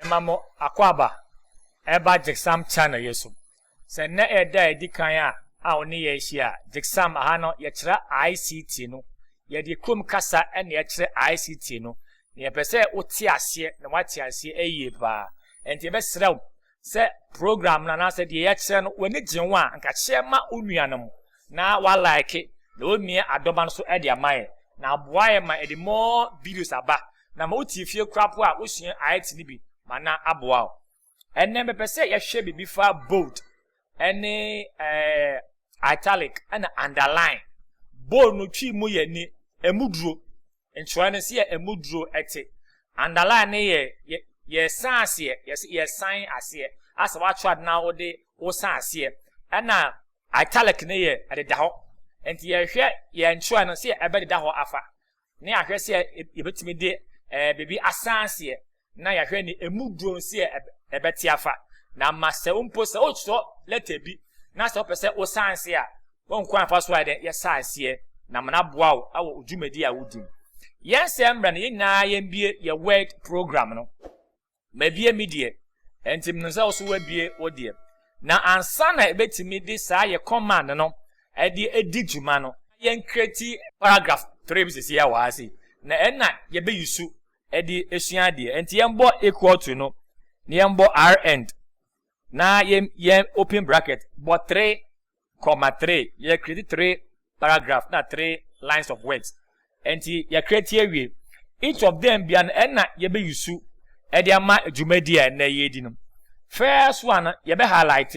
Yɛma mo akwaaba ɛreba GCSAM channel yɛ so. Sɛ nnɛ ɛyɛ da a ɛdi kan a a wo ne yɛ rehyia a, GCSAM aha no yɛkyerɛ ICT no. Yɛde kurom kasa na ɛkyerɛ ICT no. Na yɛpɛ sɛ wo te aseɛ na wate aseɛ yie paa. Ɛnti yɛbɛsrɛ wo sɛ program no anaasɛ deɛ yɛkyerɛ no w'ani gye ho a nka kyerɛ ma wo nua no mo na wa like na ɔmia adɔba no so de ama yɛ na aboa yɛ ma ɛde more videos aba na ma wotie fie kora po a wosua ayɛte no bi ma na aboa wo ɛnɛ mepɛ sɛ yɛhwɛ biribi fa bold ɛne ɛɛ italic ɛna underline bold no twi mu yɛ ne ɛmu duro nkyerɛ no sɛ yɛ ɛmu duro ɛte underline no yɛ yɛ yɛsan aseɛ yɛsɛ yɛsan aseɛ asɛ watwerɛ ade na wode wosan aseɛ ɛna italic no yɛ ɛdeda hɔ nti yɛhwɛ yɛn nkyerɛ no sɛ yɛ ɛbɛdeda hɔ afa na yɛahwɛ sɛ yɛbɛtumi de ɛɛ biribi asan seɛ na yɛahwɛ ne emu duro nseɛ ɛbɛte afa na ama sɛ wo mpo sɛ wotwerɛ lɛtɛ bi na sɛ wopɛ sɛ wosan seɛ a wɔnkwan afa so a dɛ yɛsan seɛ na ama no aboa wo wɔ dwumadi a wodi mu yɛn sɛ mmerɛ no yɛn nyinaa yɛn bie yɛ word program no Mabue me deɛ, enti menim sɛ wo nso woabue wo deɛ. Na ansa na yɛbɛtumi de saa yɛ kɔmand no de adi dwuma no, ma yɛnkreti paragraf three bi sisi a wɔ ha sei, na ɛnna yɛbɛyusu de asua adeɛ. Enti yɛmbɔ equal to no, na yɛmbɔ rnd, na yɛn yɛn open bracket, bɔ three. comma three yɛ create three paragraph na three lines of words nti yɛ create awie each of them bia no ɛna yɛbɛ yusu ɛde ama dwumadi a ɛnɛ yɛdi no first one no yɛbɛ highlight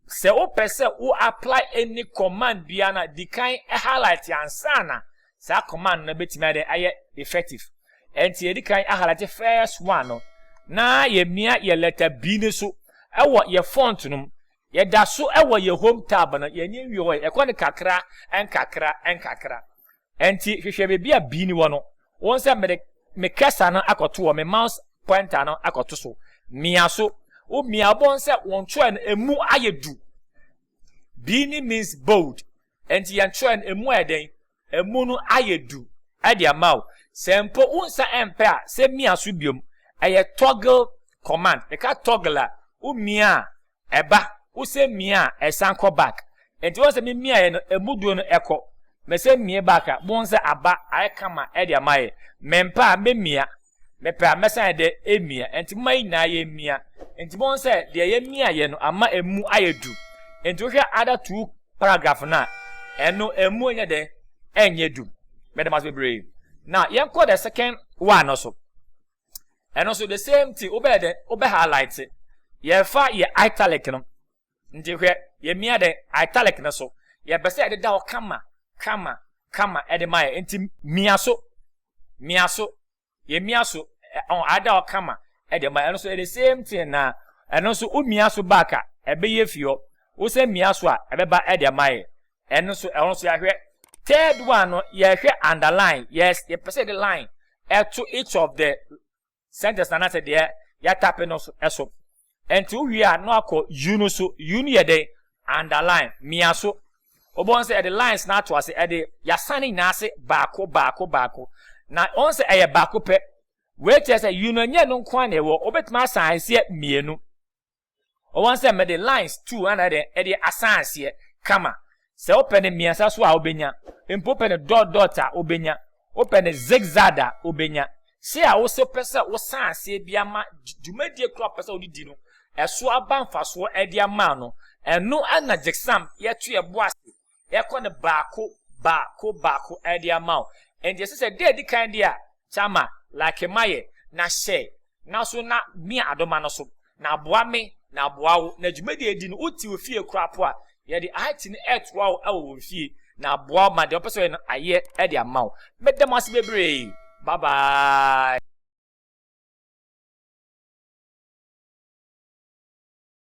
sɛ wopɛ sɛ wo apply any command bia no di kan highlight ansa na saa command no bɛtumi adɛ ayɛ effective ɛnti yɛdi kan highlight first one no na yɛmia yɛ letter B no so ɛwɔ yɛ font no mu Yɛda so wɔ yɛn home tab no, yɛn ani nwie hɔ ɛ, ɛkɔ no kakra nkakra nkakra. Ɛnti hwehwɛ baabi a bean wɔ no, wohu sɛ mede me cursor no akɔto hɔ, me mouse pointer no akɔto so, mia so, wo mia a wobɛhu sɛ wo ntwerɛ no ɛmu ayɛ du, bean means bold, ɛnti yɛn ntwerɛ no ɛmu ayɛ dɛn? ɛmu no ayɛ du de ama wo. Sɛ mpo wo nsa mpɛ a, sɛ mia so biom. Ɛyɛ toggle command. Yɛka toggle a, wo mia a, ɛba. Wo sɛ mia a, ɛsan kɔ back. Nti wohu sɛ me miaeɛ no, ɛmu duro no ɛkɔ. Me sɛ mia back a, bohu sɛ aba ayɛ kama de ama yɛ. Mempɛ a, mɛmia. Mepɛ a, mɛsan ayɛ dɛ emia. Enti momma yɛn nyinaa yemmia. Enti moahu sɛ deɛ yɛmiaeɛ no ama emu ayɛ duru. Enti wohwɛ other two paragraph no a, ɛno emu nyɛ dɛn? Ɛnyɛ duru. Meda mo ase bebree. Now yɛnkɔ the second one no so. Ɛno nso the same thing, wobɛyɛ dɛn? Wobɛ highlight. Yɛfa yɛ italic no. Nti hwɛ, yɛmia dɛn? Italic no so. Yɛpɛ sɛ yɛde da hɔ kama, kama, kama ɛde ma yɛ. Nti mia so, mia so, yɛmia so, ɔn, ada hɔ kama ɛde ma yɛ. Ɛno so, the same thing na ɛno nso womia so back a, ɛbɛyɛ fi hɔ. Wosan mia so a, ɛbɛba ɛde ama yɛ. Ɛno nso, ɛhɔ nso yɛahwɛ. Third one no, yɛhwɛ underline. Yes, yɛpɛ sɛ yɛde line ɛto each of the sentence no anaasɛ deɛ yɛatape no so. Ɛnti wowie a na wakɔ U no so. U no yɛ dɛn? Underline, mia so. Wobɛhu sɛ yɛde lines no ato ase, ɛde yɛasan ne nyinaa ase baako baako baako. Na wohu sɛ ɛyɛ baako pɛ. Wei kyerɛ sɛ U no ɛnyɛ ɛno nko ara na ɛwɔ, wobɛtumi asan aseɛ mmienu. Ɔwɔ sɛ mede lines two ana dɛ ɛde asan aseɛ kama. Sɛ wopɛ no mmiɛnsa so a wobɛnya. Mpo wopɛ no dot dot a wobɛnya. Wopɛ no zig zag a wobɛnya. Sei a wosɛ wopɛ sɛ wosan aseɛ bi ama dwumadie korɔ a wopɛ sɛ wode di no ɛso aba mfasoɔ ɛde ama no. Ɛno na Jxsam yɛto yɛbo ase yɛkɔ no baako baako baako de ama wo. Enti ɛsɛ sɛ da edi kan deɛ a, kyɛ ma, like ma yɛ, na share, na so na mia adoma no so, na aboa me, na aboa wo, na dwumadie edi no, wote wo fie koraa po a, yɛde IT no ɛtoa wo ɛwɔ wɔn fie, na aboa wo ma deɛ wopɛ sɛ ɔyɛ no ayɛ ɛde ama wo. Meda mo ase bebree. Bye bye.